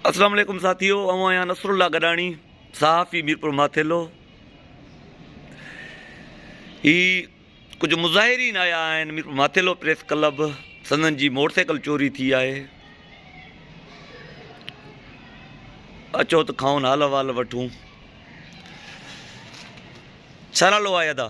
اسلام عليڪم ساٿيو آئون آهيان نصر الله گڏاڻي صحافي ميرپور ماٿيلو هي ڪجهه مظاهرين آيا آهن ميرپور ماٿيلو پريس ڪلب سندن جي موٽر سائيڪل چوري ٿي آهي اچو ته کائون حال حوال وٺون ڇا نالو آهي ادا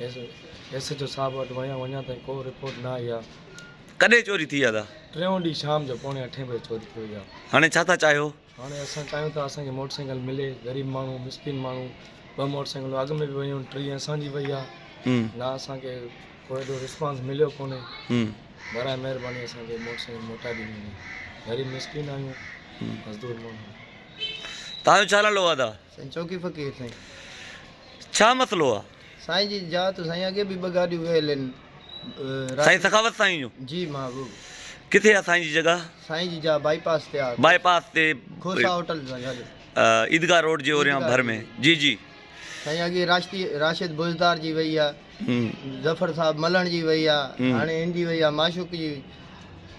ايس ايڇ او صاحب وٽ ويو آهيان اڃا تائين ڪو رپورٽ نه آئي آهي. ڪڏهن چوري ٿي آهي دادا؟ ٽيون ڏينهن شام جو پوڻي اٺين بجي چوري ٿي وئي آهي. هاڻي ڇا ٿا چاهيو؟ هاڻي اسان چاهيون ٿا اسان کي موٽر سائيڪل ملي غريب ماڻهو مسڪين ماڻهو ٻه موٽر سائيڪلون اڳ ۾ به ويون آهن ٽين اسان جي وئي آهي نه اسان کي ڪو ايڏو رسپانس مليو ڪونهي براء مهرباني اسان کي موٽر سائيڪل موٽائي ڏني وڃي غريب مسڪين آهيون مزدور ماڻهو آهيون. تهان جو ڇا نالو آهي دادا؟ سائين چوڪي فقير سائين. ڇا مسئلو آ؟ سائين جي جا تو سائين اڳي به ٻه گاڏيون ويل ان راجي. سائين سخاوت سائين جون. جي محبوب. ڪٿي آ سائين جي جڳهه؟ سائين جي جا بائي پاس تي آ. بائي پاس تي. کوسا هوٽل سان گڏ. عيدگاهه روڊ جي اوريان ڀر ۾ جي جي. سائين اڳي راشدي راشد بوجدار جي وئي آ. ظفر صاحب ملڻ جي وئي آ هاڻي هن جي وئي آ معشوق جي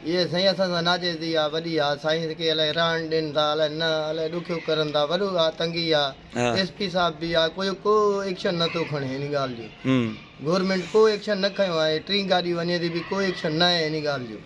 اهي سائين اسان سان ناجائزي آ وڏي آ سائين کي الائي رهڻ ڏين ٿا الائي نه الائي ڏکيو ڪرن ٿا وڏو آ تنگي آ ايس پي صاحب به آ ڪو ڪو ايڪشن نه ٿو کڻي هن ڳالهه جو گورمينٽ ڪو ايڪشن نه کنيو آهي ٽين گاڏي وڃي ٿي به ڪو ايڪشن نه آهي هن ڳالهه جو.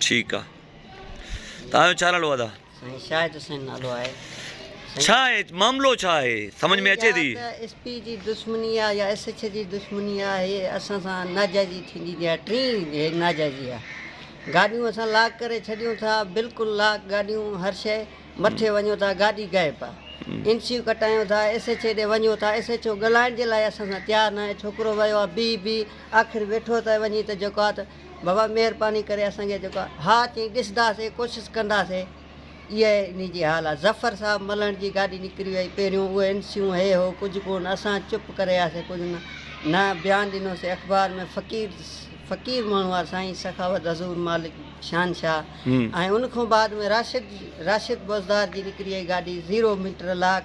ٺيڪ آ توهان جو ڇا نالو ادا. سائين شاهد حسين نالو آهي سائين. ڇا آهي معاملو ڇا آهي سمجھ ۾ اچي ٿي. يا ته ايس پي جي دشمني آ يا ايس ايڇ جي دشمني آ هي اسان سان ناجائزي ٿيندي ٿي آ ٽين هي ناجائزي آ گاڏيون اسان لاڪ ڪري ڇڏيون ٿا بلڪل لاڪ گاڏيون هر شئي مٿي وڃو ٿا گاڏي غائب آ اين سيون ڪٽايون ٿا ايس ايڇ اي ڏي وڃو ٿا ايس ايڇ او ڳلهائڻ جي لاء اسان سان تيار ناهي ڇوڪرو ويو آ بيهي بيهي آخر ويٺو ته وڃي ته جيڪو آ ته بابا مهرباني ڪري اسان کي جيڪو آهي ها چئين ڏسنداسين ڪوشش ڪنداسين اها ئي انهي جي حال آهي ظفر صاحب ملهڻ جي گاڏي نڪري وئي پهريون اهو اين سيون هي هو ڪجهه ڪونه اسان چپ ڪري آياسين ڪجهه نه نه بيان ڏنوسين اخبار ۾ فقير فقير ماڻهو آهي سائين سخاوت حضور مالڪ شهنشاهه ۽ ان کان بعد ۾ راشد راشد بوزدار جي نڪري وئي گاڏي زيرو ميٽر لاڪ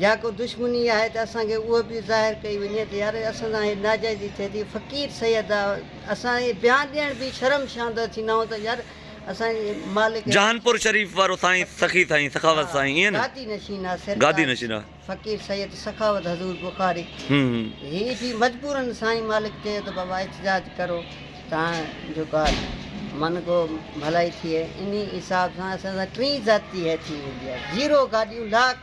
جا ڪو دشمني آهي ته اسان کي اهو به ظاهر ڪئي وڃي ته يار اسان سان هي ناجائزي ٿئي ٿي فقير سيد آ اسان اهي بيان ڏيڻ به شرم شاندر ٿيندا آهيون ته يار اسان جي مالڪ جهانپور شريف وارو سائين سخي سائين سخاوت سائين ايئن نه گادي نشين آ سرڪار گادي نشين آ فقير سيد سخاوت حضور بخاري هم هي به مجبورا سائين مالڪ چيو ته بابا احتجاج ڪرو تان جو ڪا من گو ڀلائي ٿئي انهي حساب سان اسان سان ٽين ذاتي هي ٿي ويندي آ زيرو گاڏيون لاک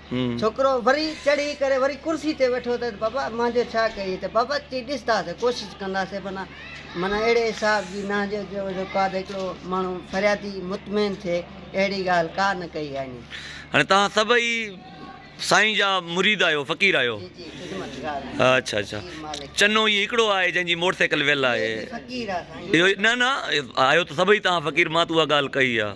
ڇوڪرو وري چڙهي ڪري وري ڪرسي تي ويٺو ته بابا مان جو ڇا ڪيئي ته بابا چي ڏس ٿا سي ڪوشش ڪنداسي منا منا اهڙي حساب جي نه جو جو جو ڪا ته هڪڙو ماڻهو فريادي مطمئن ٿئي اهڙي ڳالهه ڪا نه ڪئي آهي ني. هاڻي توهان سڀئي سائين جا مريد آهيو فقير آهيو. جي جي خدمتگار آهيون. اڇا اڇا جي مالڪ. چنو هي هڪڙو آهي جنهن جي موٽر سائيڪل ويل اهي آهي. به فقير آهي سائين. اهو نه نه آهيو ته سڀئي توهان فقير مان ته اها ڳالهه ڪئي آهي.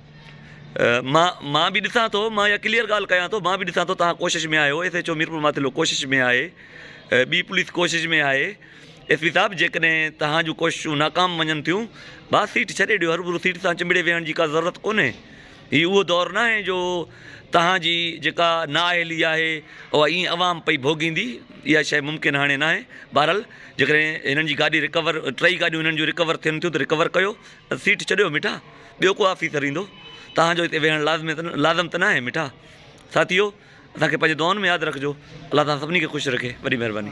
مان مان به ڏسان ٿو مان اها ڪليئر ڳالهه ڪيان ٿو مان به ڏسان ٿو تهان ڪوشش ۾ آهيو S H O Mirpur Mathelo ڪوشش ۾ آهي ٻي پوليس ڪوشش ۾ آهي ايس پي صاحب جيڪڏهن تهان جون ڪوششون ناڪام وڃن ٿيون با سيٽ ڇڏي ڏيو هربرو سيٽ سان چنبڙي ويهڻ جي ڪا ضرورت ڪونهي هي اهو دور نه آهي جو تهانجي جيڪا نااهلي آهي اها ائين عوام پئي ڀوڳيندي اها شي ممڪن هاڻي ناهي بهرحال جيڪڏهن هنن جي گاڏي رڪور ٽئي گاڏيون هنن جون رڪور ٿين ٿيون ته رڪور ڪيو سيٽ ڇڏيو مٺا، ٻيو ڪو آفيسر ايندو، توهان جو هتي ويهڻ لازم ته ناهي مٺا. ساٿيو! اسان کي پنهنجي دعائن ۾ ياد رکجو. الله توهان سڀني کي خوش رکي. وڏي مهرباني.